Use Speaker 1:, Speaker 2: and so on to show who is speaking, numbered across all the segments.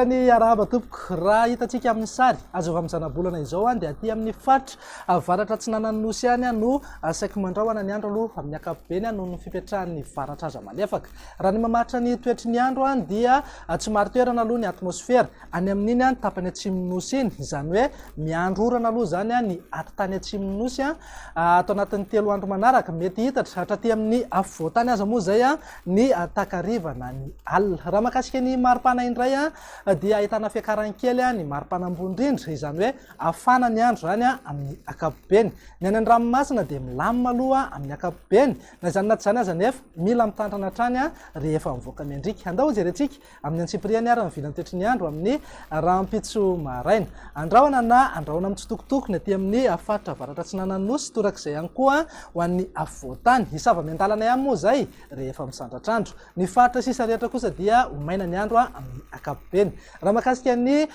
Speaker 1: ny arahaba tompoko raha hitantsika amin'ny sary azova amin'ny zanabolana izao any dia aty amin'ny faritra avaratra tsy nanany nosy any no asaiko mandraoana ny andro aloha amin'ny akapobeny any noho ny fipetrahan'ny varatra aza malefaka raha ny mamaritra ny toetry ny andro any dia tsy marotoerana aloha ny atmosfera Any amin'iny ny tapany atsimon'ny Nosy iny, izany hoe miandry orana aloha izany ny ady tany atsimon'ny Nosy. Ato anatin'ny telo andro manaraka, mety hihitatra hatraty amin'ny afovoan-tany aza moa izay ny takariva na ny alina. Raha mahakasika ny maripana indray dia ahitana fiakarany kely ny maripana ambony indrindra, izany hoe hafana ny andro izany amin'ny ankapobeny. Ny any an-dranomasina dia milamina aloha amin'ny ankapobeny. Na izany na tsy izany aza anefa, mila mitantana hatrany rehefa mivoaka miandriaka. Andao hojerentsika Amin'ny antsipiriany ary ny vilan-tetry ny andro amin'ny rahampitso maraina. Andrahona na andrahona mitsitokotoko ny aty amin'ny faritra avaratra atsinanan'ny Nosy, torak'izay ihany koa ho an'ny afovoan-tany. Hisava miandalana ihany moa izay rehefa misandratr'andro. Ny faritra sisa rehetra kosa dia ho maina ny andro amin'ny ankapobeny. Raha mahakasika ny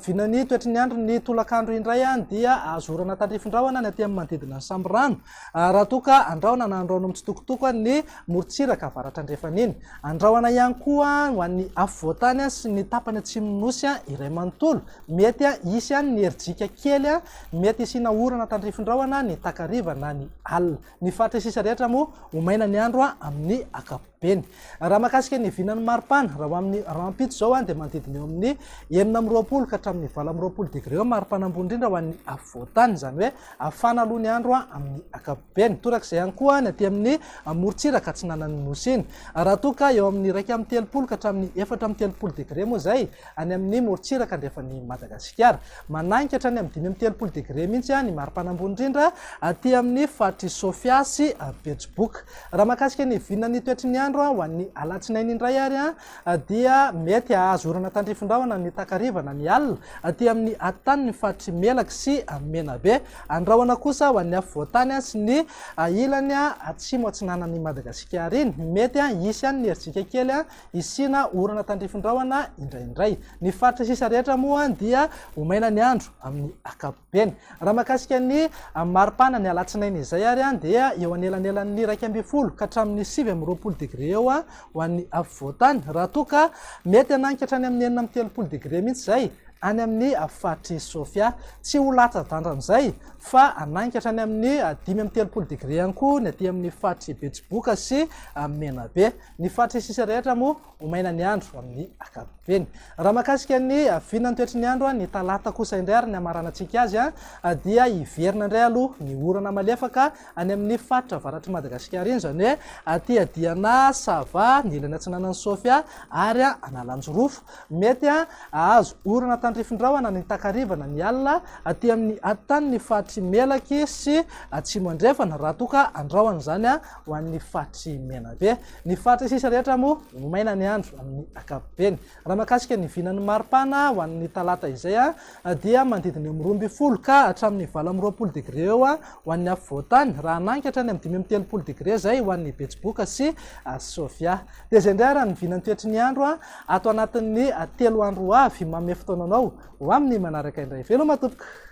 Speaker 1: vinan'ny toetry ny andro ny tolakandro indray dia azo orana tandrifin-drahona ny aty amin'ny manodidina ny sambirano. Raha toa ka andrahona na andrahoina mitsitokotoko ny morontsiraka avaratra andrefana iny. Andrahoina ihany koa ho an'ny afovoantany sy ny tapany atsimon'ny Nosy iray manontolo. Mety hisy ihany ny herijika kely. Mety hisiana orana tandrifindrahona ny takariva na ny alina. Ny faritra sisa rehetra moa ho maina ny andro amin'ny ankapobeny. Beny. Raha mahakasika ny vinan'ny maripana, raha ho amin'ny rahampitso izao dia manodidina eo amin'ny enina amby roapolo ka hatramin'ny valo amby roapolo degré eo ny maripana ambony indrindra ho an'ny afovoantany, izany hoe hafana aloha ny andro amin'ny ankapobeny. Toraka izay ihany koa ny aty amin'ny morontsiraka atsinanan'ny Nosy iny. Raha toa ka eo amin'ny iraika amby telopolo ka hatramin'ny efatra amby telopolo degré moa izay any amin'ny morontsiraka andrefan'i Madagasikara. Mananika hatrany amin'ny dimy amby telopolo degré mihitsy ny maripana ambony indrindra aty amin'ny faritr'i Sofia sy Betsiboka. Raha mahakasika ny vinan'ny toetry ny andro ho an'ny alatsinainy indray ary dia mety hahazo orana tandrifin-drahona ny takariva na ny alina aty amin'ny atitany ny faritry Melaky sy Menabe. Andrahona kosa ho an'ny afovoantany sy ny ilany atsimo atsinanan'i Madagasikara iny. Mety hisy ihany ny herijika kely hisiana orana tandrifin-drahona indraindray. Ny faritra sisa rehetra moa dia ho maina ny andro amin'ny ankapobeny. Eny, raha mahakasika ny maripana ny alatsinainy izay ary dia eo anelanelan'ny iraika ambin'ny folo ka hatramin'ny sivy amby roapolo degre eo ho an'ny afovoantany, raha toa ka mety hanagny ka hatrany amin'ny enina amby telopolo degre mihitsy izay any amin'ny faritr'i Sofia. Tsy ho latsa-danja amin'izay fa hanagny ka hatrany amin'ny dimy amby telopolo degre ihany koa ny aty amin'ny faritr'i Betsiboka sy Menabe. Ny faritr'Isisa rehetra moa ho maina ny andro amin'ny ankapobeny. Raha makasika ny vinan'ny toetry ny andro, ny talata kosa indray ary ny amaranantsika azy dia hiverina indray aloha ny orana malefaka any amin'ny faritra avaratry Madagasikara iny, izany hoe aty Adiana, Sava, ny ilany atsinanan'i Sofia ary Analanjirofo. Mety hahazo orana tandrifin-drahona ny takariva na ny alina aty amin'ny aty tany ny faritry Melaky sy Atsimo Andrefana raha toa ka andrahona izany. ho an'ny faritry Menabe. Ny faritra sisa rehetra moa ho maina ny andro amin'ny ankapobeny. Raha makasika ny vinan'ny maripana ho an'ny talata izay dia manodidina eo amin'ny roa ambin'ny folo ka hatramin'ny valo amby roapolo degré eo ho an'ny afovoan-tany raha hanangy hatrany amin'ny dimy amby telopolo degré izay ho an'ny Betsiboka sy Sofia. Dia izay indray arany ny vinan'ny toetry ny andro ato anatin'ny telo andro ho avy. Manome fotoana anao ho amin'ny manaraka indray. Veloma tompoko!